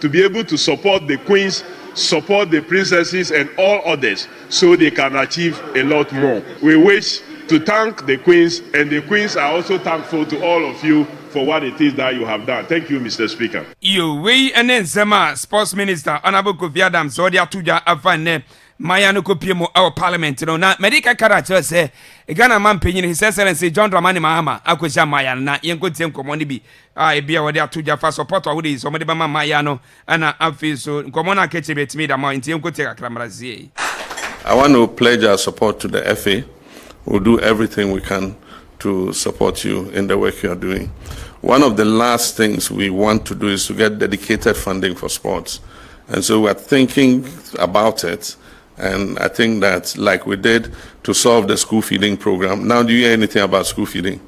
to be able to support the queens, support the princesses and all others so they can achieve a lot more. We wish to thank the queens and the queens are also thankful to all of you for what it is that you have done. Thank you Mister Speaker. Iyo, wei ne nsɛm a Sports Minister Honourable Kofi Adams ɔde ato dwa afa nnɛ mmaayewa no kɔpie mu wɔ Parliament no na mɛde kakra akyerɛ sɛ Ghana ma mpanyin His Excellency John Dramani Mahama akɔhyia mmaayewa no na yɛnkɔtie nkɔmmɔ no bi a ebia wɔde ato gya fa sɔpɔtɔ ahorow yi sɛ wɔde bɛma mmayewa no na afei nso nkɔmmɔ no a aka akyire betumi da ma ntie nkotie kakra mmra sie. I want to pledge our support to the FA, we'll do everything we can to support you in the work you are doing. One of the last things we want to do is to get dedicated funding for sports and so we are thinking about it and I think that like we did to solve the school feeding program, now do you hear anything about school feeding?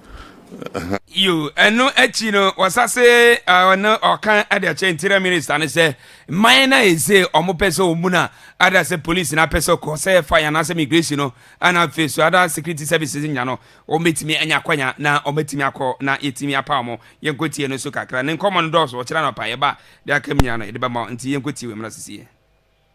Yiw, ɛno akyi no, wɔsase ne ɔka de akyerɛ Interior Minister no sɛ mman no a ese wɔpɛ sɛ wɔbu no a ada sɛ polisi no apɛ sɛ ɔkɔ sɛ fire anaasɛ migration no na afei so ada security services nya no, wɔbɛtumi anya akwanya na wɔatumi akɔ na yɛtumi apaw mo. Yɛnkɔtie no nso kakra. Ne nkɔmmɔ no dɔɔso, ɔkyerɛ anɔpa yɛba deɛ aka mu nyinaa no yɛde bɛma wo. Nti yɛnkɔtie wei mmra sesie.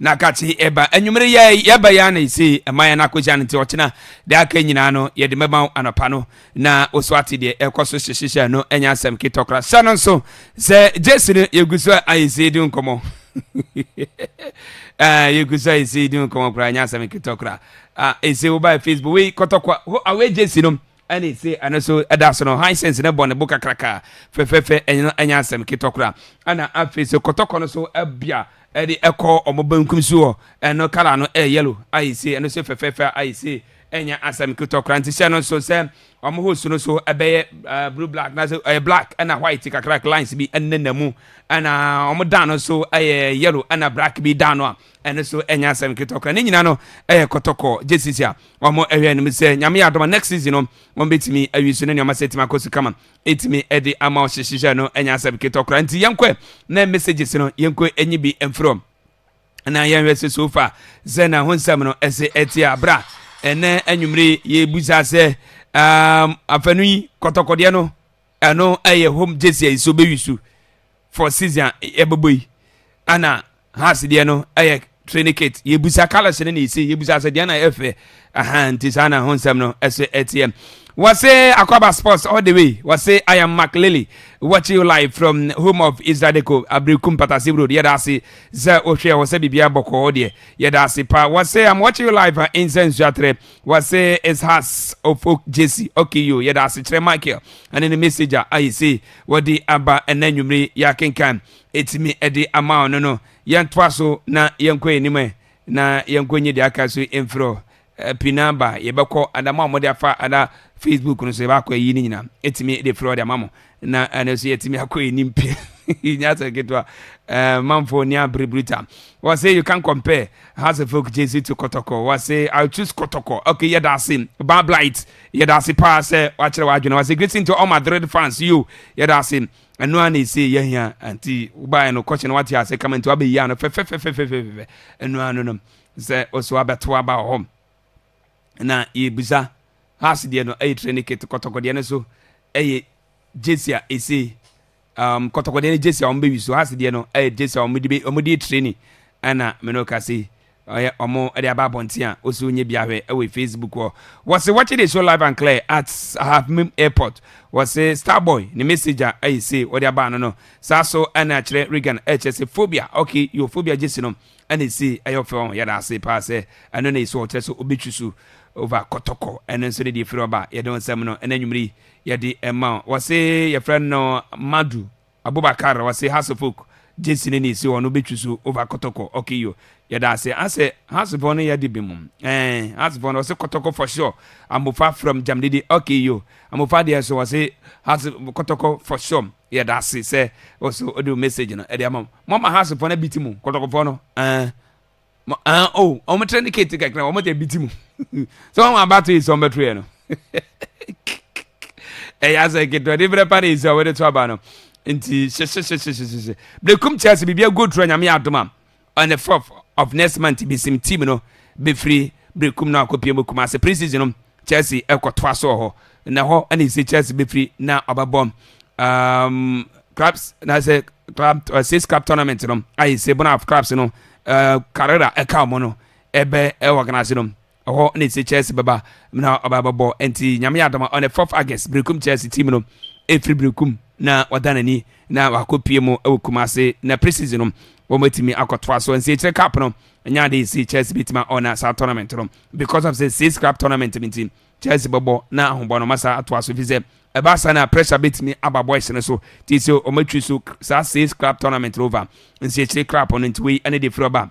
Na katse eba anwumber yɛ yɛba yi ana ese mma hɛn akohyia no ntsi ɔkyena dɛ aka nyina no yɛdze bɛma wo anɔpa no na wosoatse deɛ ɛkɔ so hyehyehyɛ no ɛnyɛ asɛm ketɔ koraa hyɛ no nso sɛ gyesi no yɛgu so ayɛ sei di nkɔmɔ ah yɛgu so ayɛ sei di nkɔmɔ koraa ɛnyɛ asɛm ketɔ koraa ah ese wobaɛ facebook wei kɔtɔkwa ho awɛ gyesi no Ɛne se ɛno so da so no Hisense no bɔ ne bo kakraka fɛfɛɛfɛ ɛno ɛnyɛ asɛm ketewa koraa. Ɛna afei so kɔtɔkɔ no so bea ɛde ɛkɔ wɔn benkum so hɔ ɛno colour no ɛyɛ yellow ayɛ se ɛno so fɛfɛɛfɛ a ayɛ se ɛnyɛ asɛm ketewa koraa nti sɛ ɛno nso sɛ wɔn hose no so ɛbɛyɛ blue black na sɛ ɛyɛ black ɛna white kakrak lines bi ɛnenam mu ɛna wɔn dan no so ɛyɛ yellow ɛna black bi dan no a Ɛno nso ɛnyɛ asɛm ketewa koraa. Ne nyinaa no ɛyɛ kɔtɔkɔ. Gye sisi a wɔn ɛhwɛ anim sɛ nyame yɛ adom a next season no wɔn bɛtumi awi so ne nneɛma sɛ ɛtumi akɔ so kama ɛtumi ɛde ama ɔhyehyehyɛ no ɛnyɛ asɛm ketewa koraa. Nti yɛnkɔ ɛ na messages no yɛnkɔ ɛnyi bi mfiri wɔn na yɛnhwɛ sɛ so far sɛ na ho nsɛm no ɛse ɛte a bra ɛnɛ anwummere yɛbusa sɛ um, afanu yi kɔtɔkɔdeɛ no ɛno ɛyɛ home gyesi a nsuo bɛwi so for season a ɛbɛbɔ yi ɛna house deɛ no ɛyɛ trinicate yɛbusa colors no na ɛsi yɛbusa sɛ deɛ na ɛfɛ aha nti saa na ho nsɛm no ɛsɛ ɛteɛ wɔse akwaba sports all the way wɔse i am mark lily watching you live from home of israel deco abirikum patase road yɛda ase sɛ wohwɛ wɔ sɛ biribiara bɔkɔɔ deɛ yɛda ase pa wɔse i'm watching you live in sɛ nsuatrɛ wɔse is has of oak jesse okiyo yɛda asekyerɛ michael ɛne ne message a ayɛ sei wɔde aba ɛna nwummere yɛakenkan ɛtumi ɛde ama ɔno no yɛntoa so na yɛnkɔ anim ɛ na yɛnkɔ nye deɛ aka so mfirɛ pina ba yɛbɛkɔ adama a wɔde afa ada facebook no so yɛbɛakɔ ayi no nyina ɛtumi de firɛ ɔde ama mo na ɛno nso yɛtumi akɔ anim pɛ nyɛ asɛ nketewa manfoɔ ni abere bruta wɔse you can compare house of folk jesu to kɔtɔkɔ wɔse i choose kɔtɔkɔ okay yɛda ase ba blight yɛda ase paa sɛ wakyerɛ w'adwene wɔse greeting to all my dread fans yo yɛda ase ɛno a na ɛsɛ yɛhia nti wobaeɛ no kɔhyɛ no wate ase kama nti wabɛyia no fɛfɛfɛfɛfɛfɛ ɛno a no no sɛ ɔso abɛto aba wɔ hɔ na yebisa has deɛ no ɛyɛ training kit kɔtɔkɔdeɛ no so ɛyɛ gyesi a ese um, kɔtɔkɔdeɛ no gyesi a wɔn bɛwi so has deɛ no ɛyɛ gyesi a wɔn de wɔn de training ɛna mene ka se ɔyɛ wɔn ɛde aba abɔnten a wɔsi onye bi ahwɛ ɛwɔ facebook hɔ wɔsi wɔkye de show live and clear at ahafimim airport wɔsi starboy ne message a ɛyɛ se wɔde aba ano no saa so ɛna akyerɛ regan ɛkyɛ se phobia okay your phobia gyesi no ɛna ese ɛyɛ ɔfɛ wɔn yɛda ase paa sɛ ɛno na ese ɔkyerɛ sɛ obetwi so over kɔtɔkɔ ɛno nso ne deɛ efiri ɔba yɛde wɔn nsɛm no ɛna enyimire yi yɛde ɛma wɔse yɛfrɛ no madu abubakar wɔse house of oak gyesi ne na ese wɔn obetwi so over kɔtɔkɔ okay yo yɛda ase asɛ house fɔ no yɛde bi mu ɛɛ house fɔ no wɔse kɔtɔkɔ for sure amofa from jamdede okay yo amofa deɛ so wɔse house kɔtɔkɔ for sure Yɛda ase sɛ wo so ode wo message no ɛde ama mo. Mo ma house fɔ no abiti mo kɔtɔkɔ fɔ no ɛɛn mo ɛɛn oh ɔmo tre ne kate kakra ɔmo de abiti mo sɛ wɔn abato yi sɛ ɔmo bɛto yɛ no ɛyɛ asɛ ketewa de brɛ pa na esi a wɔde to aba no nti hyehyɛhyɛhyɛhyɛhyɛ blekum kyɛ ase biribi ago turo nyame yɛ adoma On the fourth of next month besim team no befiri Berekum na wɔakɔpia mu Kumase. Pre-season no Chelsea kɔtoa so wɔ hɔ na ɛhɔ na yɛsi Chelsea befiri na ɔbɛbɔ um, clubs na sɛ club uh, six club tournament no ayɛ sɛ bona of clubs no uh, Carrera ɛka wɔn no ɛbɛ ɛwɔ organize no Ɛhɔ na ɛsɛ Chelsea bɛba mu na ɔbaa bɛbɔ. Nti nyame yɛ adom a on the 4th August Berekum Chelsea team no ɛfiri Berekum na wɔda n'ani na wakɔ pie mu wɔ Kumase na pre-season no wɔatumi akɔtoa so. Nti akyire cup no ɛnyɛ ade ɛsi Chelsea bɛtumi a ɔna saa tournament no because of sɛ six club tournament no nti Chelsea bɛbɔ na ahobɔ no masa atoa so fi sɛ ɛba saa na pressure bɛtumi aba boys no so ti sɛ ɔmatwi so saa six club tournament no over nsi akyire club no nti wei ɛne de firi ɔba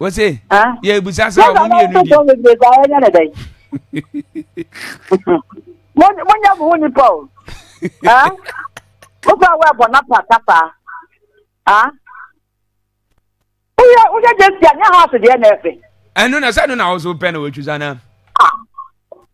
wɔsɛ yɛbusa sɛ ɔmo mmienu di monyɛ mo ho nipa o wofa wo ɛbɔ na pa kapa woyɛ woyɛ gyesi a nyɛ house deɛ na ɛfɛ ɛno na sɛ ɛno na wo so pɛ na wɔatwisa no a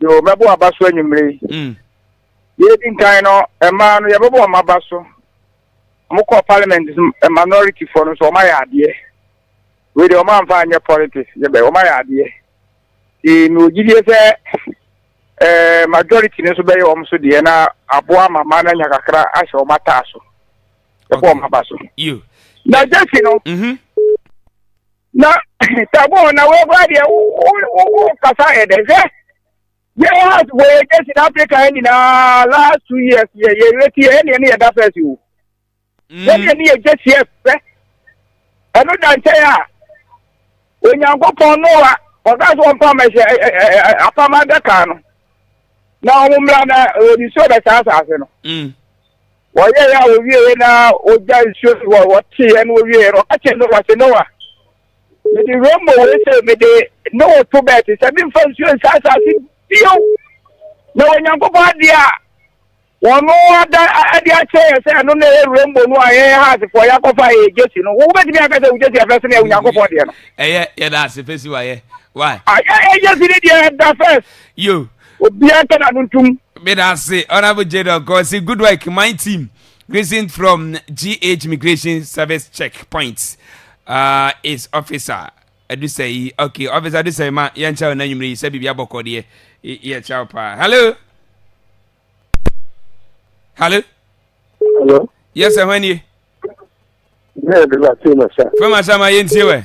Yo, mɛbɔ aba so anwummere yi. Mm. Yɛdi nkan no, mmaa no yɛbɛbɔ wɔn aba so. Wɔkɔ parliament minority foɔ no so wɔn ayɛ adeɛ. Wei deɛ wɔn amfa anyɛ politics yɛbɛ wɔn ayɛ adeɛ. Ee, mi wɔ gyidie sɛ ɛɛ eh, majority no nso bɛyɛ wɔn so deɛ na aboa ma mmaa no anya kakra ahyɛ wɔn ataa so. Yɛbɔ wɔn aba so. Yo. Na gyesi no. Mm-hmm. na tabo na wɔkura deɛ wokasa yɛ dɛ hwɛ yɛhas wɔyɛ gyesi na afrika ha nyinaa last two years yɛ yɛwɛti yɛ ɛneɛ ne yɛda fɛs o yɛneɛ mm. ne yɛ gyesi ɛfɛ ɛno da nkyɛn a onyankopɔn noa ɔka so ɔmpam ɛhyɛ apam adaka no na wɔn mmra na nsuo bɛsa asase no mm. Wɔyɛɛ a wɔwieeɛ na wɔgya nsuo no hɔ, wɔteeɛ na wɔwieeɛ no, ɔka kyerɛɛ Noa sɛ, Noa, mede wura mmɔ wei sɛ mede ne wo to bɛɛte sɛ memfa nsuo nsa asase bio. Na Onyankopɔn adeɛ a wɔn ada ade akyɛ yɛ sɛ ɛno na ɛyɛ wura mmɔ no a yɛyɛ ha asefoɔ yɛakɔfa yɛ gyesi no. Wobɛtumi aka sɛ wo gyesi ɛfɛ sene Onyankopɔn deɛ no? Ɛyɛ yɛda ase fɛsi wayɛ. Why? Ayɛ yɛ gyesi ne deɛ ɛda fɛs. Yo. Obiara nka n'ano ntom. Medase Honourable Jadon Kosi good work my team greeting from GH Immigration Service check point uh, is officer Adusai okay officer Adusai ma yɛn kyɛw na nwumire yi sɛ biribi abɔkɔ deɛ yɛ kyɛw paa hello hello hello yes ɛhɔn nie. Fɛma Sama yɛntie wɛ.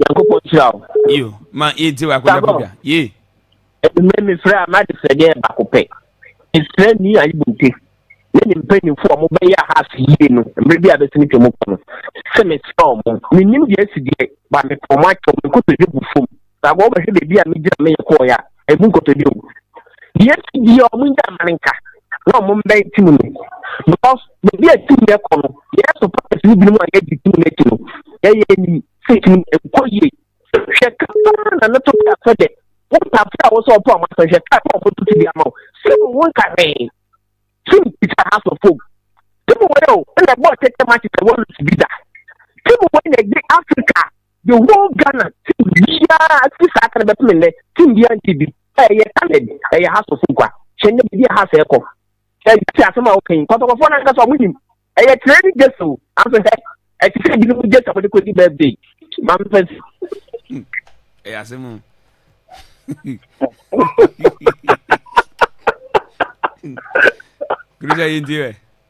Nyankopɔn nhyira wo. Yo, ma yɛntie baako na bɔdwa. Ye. Ɛnumere mefrɛ a m'ade srɛ deɛ baako pɛ. Mesrɛ ni ayibonte ne ne mpanyinfo a wɔbɛyɛ aha ase yie no mmerɛ bi a bɛsini twɛ mu kɔ no sɛ mesrɛ wɔn. Mennim deɛ asi deɛ ba mepɛ wɔn akyɛ wɔn nkotodwe bu fam. Saa wɔbɛhwɛ baabi a megyina meyɛ kɔɔeɛ a. ɛmu nkɔtɔ bio deɛ ɛsi deɛ ɔmo ngya ama no nka na ɔmo mbɛn tim no because baabi a tim no ɛkɔ no yɛyɛ supporters no binom a yɛgye tim no akyi no yɛyɛ anim sɛ tim no ɛnkɔ yie hwɛ kaa na no to kaa sɛ dɛ wontafo a wɔsɛ ɔpɔ ɔmo asɛ hwɛ kaa na ɔmo to ti bi ama wo sɛ mo ho nka hwee tim ti sɛ ha sɔ fom tim wɔ yɛ o ɛna ɛbɔ ɔtɛtɛ ma kyekyɛ wɔn lusi bi da tim wɔ yɛ gye africa the whole ghana team biara ti saa kan bɛ pɛmɛ nɛ team biara nti bi ɛyɛ talent ɛyɛ ha so fun kwa hyɛn ne bibi aha sɛ ɛkɔ ɛyɛ ti asɛm a ɔkɛn kɔtɔkɔfɔ na nkasa ɔmo nim ɛyɛ tire ne gye so anso hɛ ɛti sɛ ebi ne mo gye sɛ ɔmo de kɔ di birthday maa mi fɛn. ɛyɛ asɛm o. Grisa yɛ nti rɛ.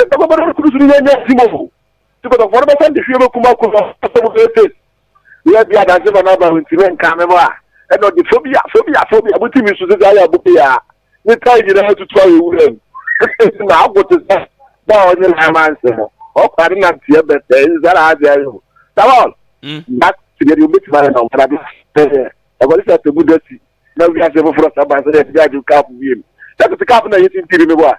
Ɛbɛkɔkɔdɔ kuru so no yɛ nyɛ tim o. Ti kɔtɔfoɔ no bɛsan de hwie bɛkum akoro no asɛm no bɛyɛ fake. Yɛ bi adanse ma no aba ho nti me nka me ho a ɛna ɔde fobia fobia fobia mo ti mi so sisi ayɛ abo pia ne tae nyinaa tutu ayɛ wura mu. Ɛsɛ na ago te sɛ na ɔnye na ama nse no ɔkɔ ade na nteɛ bɛtɛ ɛsɛ sɛ na ase ayɛ o. Sabon. Na tibia de obetumi ayɛ na ɔmana bi. Ɛkɔde sɛ atɛmu da si na wiase foforɔ saba sɛ na ɛsɛ agye kaapo biem. Sɛ tete kaapo na yɛsi ntiri me bo a.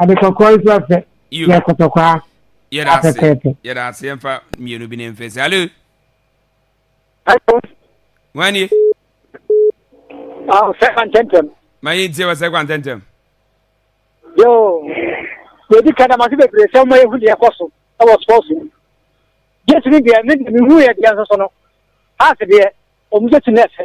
ade kɔkɔɔ nso ɔfɛ yɛ kɔtɔkwaa afɛfɛɛfɛ. yɛda ase yɛmfa mmienu bi ne mfɛ sɛ alo wanie sɛ kwantɛntɛm ma yɛntie wɔ sɛ kwantɛntɛm yo yɛdi ka damase bebree sɛ woma yɛhu deɛ ɛkɔ so ɛwɔ sports mu jesu no deɛ mehu yɛ deɛ nso so no ase deɛ ɔmu sɛ ti no ɛfɛ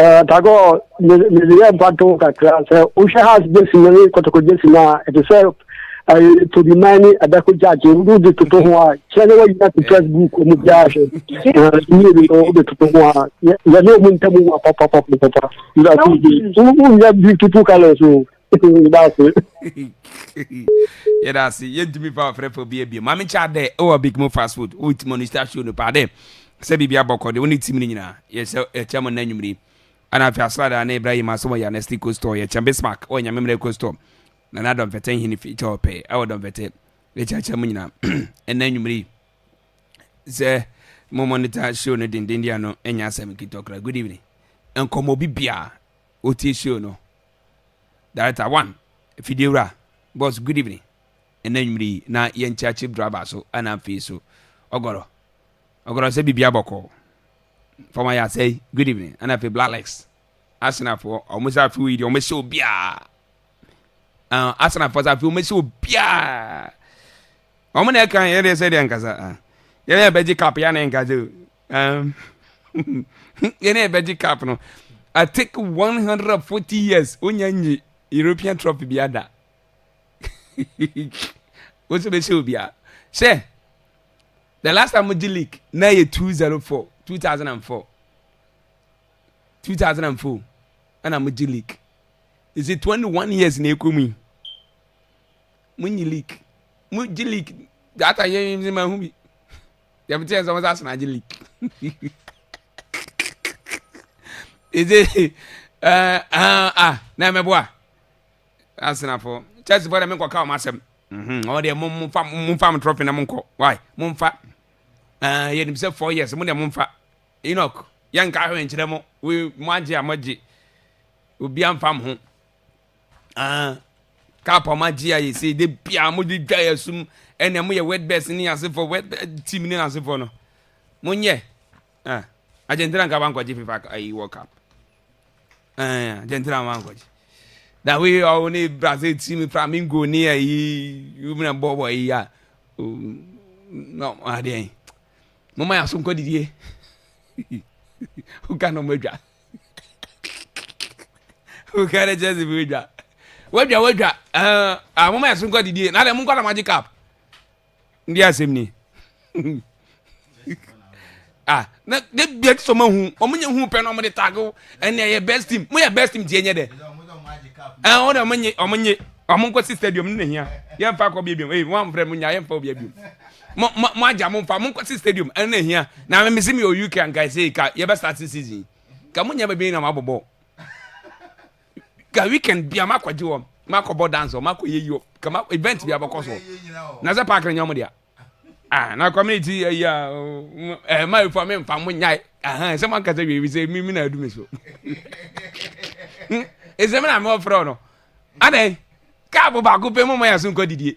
Eh, Tagore, mede yɛ mpato kakra sɛ wohwɛ house gyesi no ne kɔtɔkɔ gyesi no a ɛte sɛ eh, todiman ne ɛbɛko gyagye wode toto ho a kyerɛ ne woayi ate press book ɔmu biara hwɛ mmienu eh, no wode toto ho a yɛne ɔmu ntamu wa papapapapapa wonyɛ beautiful colors o yɛda ase yɛntumi fa ɔfrɛfo bi abie ma menkyɛ adɛ ɛwɔ big mo fast food wotumi ɔno star show no paa dɛ sɛ biribi abɔkɔ de wo ne tim no nyinaa yɛsɛ ɛkyɛ mo nna nwumiri ana afei asrada ne ibrahim asɛ wɔ yɛne sti co store yɛkyɛ bismark wɔ nyame mmerɛ co store na na dɔmfɛtɛ nhene fi kyɛ ɔpɛ ɛwɔ dɔmfɛtɛ yɛkyɛkyɛ mo nyinaa ɛnna nwumiri sɛ mo monitor show no dendenden ano ɛnyɛ asɛm nkitɔkra good evening nkɔmmɔ bi biaa wotie show no Director one, Fidiwura, Boss good evening, ɛnɛ anwummere yi na yɛnkyea Chief Driver so ɛna afei so Ɔgɔrɔ, Ɔgɔrɔ sɛ biribiara bɔkɔɔ, Fam ayɛ asɛe, good evening, ɛna afei Black Legs, Asenafoɔ, wɔn sɛ afei yi deɛ wɔn sɛ obiara, uh, Asenafoɔ sɛ afei wɔn sɛ obiara, wɔn na ɛka yɛn deɛ sɛ deɛ nkasa, yɛn na yɛbɛgye kap yɛn na yɛnkasa o. Um, yɛne ɛbɛgye cap no I take 140 years onya nyi European trophy bi ada wo nso bɛhyɛ obiara sɛ the last time mogye league na yɛ 204 2004 2004 ɛna mogye league ɛsɛ 21 years na ɛkɔ mu yi monyi league mogye league data yɛyɛ ma ho bi Deɛ mete yɛ sɛ wɔn sɛ asena agye leak. Ɛdze ɛɛ eh, ah, ah na mɛboa asenafo church bɔ dɛ menkɔ ka wɔn asɛm. Mhm, wɔn deɛ mo mo fa mo nfa mo trɔfi na mo nkɔ why mo nfa ɛɛ eh, yɛ nim sɛ four years mo deɛ mo nfa Enoch yɛn nka ahwɛ nkyerɛ mo we mo agye a mo agye obi anfa mo ho. Ah, cap a wɔagye ayɛ sei de bia mode dwa yɛ sum ɛnna moyɛ wetbirds ne asefoɔ wetbird team ne asefoɔ no monyɛ ah Argentina nka wankɔgye fifa ayi world cup ah Argentina wankɔgye na wei ɔwo ne Brazil team Flamingo ne ayi wumina bɔbɔ yi a no adeɛ mo ma yɛ aso nkɔ didie woka na ɔmo adwa. woka ne kyerɛ se bi wadwa wadwa wadwa ah, moma yɛso nkɔ didie na dɛ monkɔ na magye cap ndi asɛm ni ah na de bia ti sɛ ɔma hu ɔmo nyɛ hu pɛ na ɔmo de tag wo ɛnna ɛyɛ best team mo yɛ best team tie nyɛ dɛ ɛn ɔmo de ɔmo nye ɔmo nye ɔmo nkɔ si stadium ne na hia yɛn fa kɔ bi ebiom ee wɔn afrɛ mo nya yɛn fa obi ebiom. Mo mo mo agya mo mfa mo nkɔ si stadium ɛno na ehia. Na me mesi mi wɔ UK anka ɛsɛ ka yɛbɛ start season yi. Ka mo nyɛ baabi nyinaa ma bɔbɔ. Ka weekend bia ma kɔgye wɔ ma kɔbɔ dance wɔ ma kɔ yɛ yi wɔ ka ma event bia bɛkɔ so. Na sɛ park no nyɛ mo dea. Ah na community ɛyi a ɛɛ ma efo me mfa mo nyae. Aha sɛ mo ankasa wie bi sɛ mi mi na adu mi so. Ɛsɛ mi na me ɔfrɛ no. Adɛn? Kaa bo baako pɛ mo ma yɛ so nkɔ didie.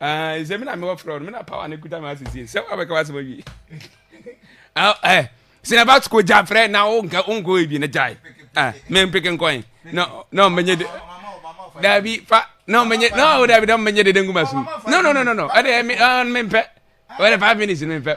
Ah, ɛsɛ me na mewɔ frɛ no, me na power no kuta me asɛsie sɛ woabɛka w'asɛm awie ah, eh, sɛ na ba sukuu gya frɛ na wonkɔ wonkɔ ebi na gyae ah, mempeke nkɔn na na ɔmmɛnyɛ de daabi fa na ɔmmɛnyɛ na ɔwɔ daabi na ɔmmɛnyɛ dede ngu ma so no no no no no ɛde ɛme ɔn mempɛ ɔde five minutes no mempɛ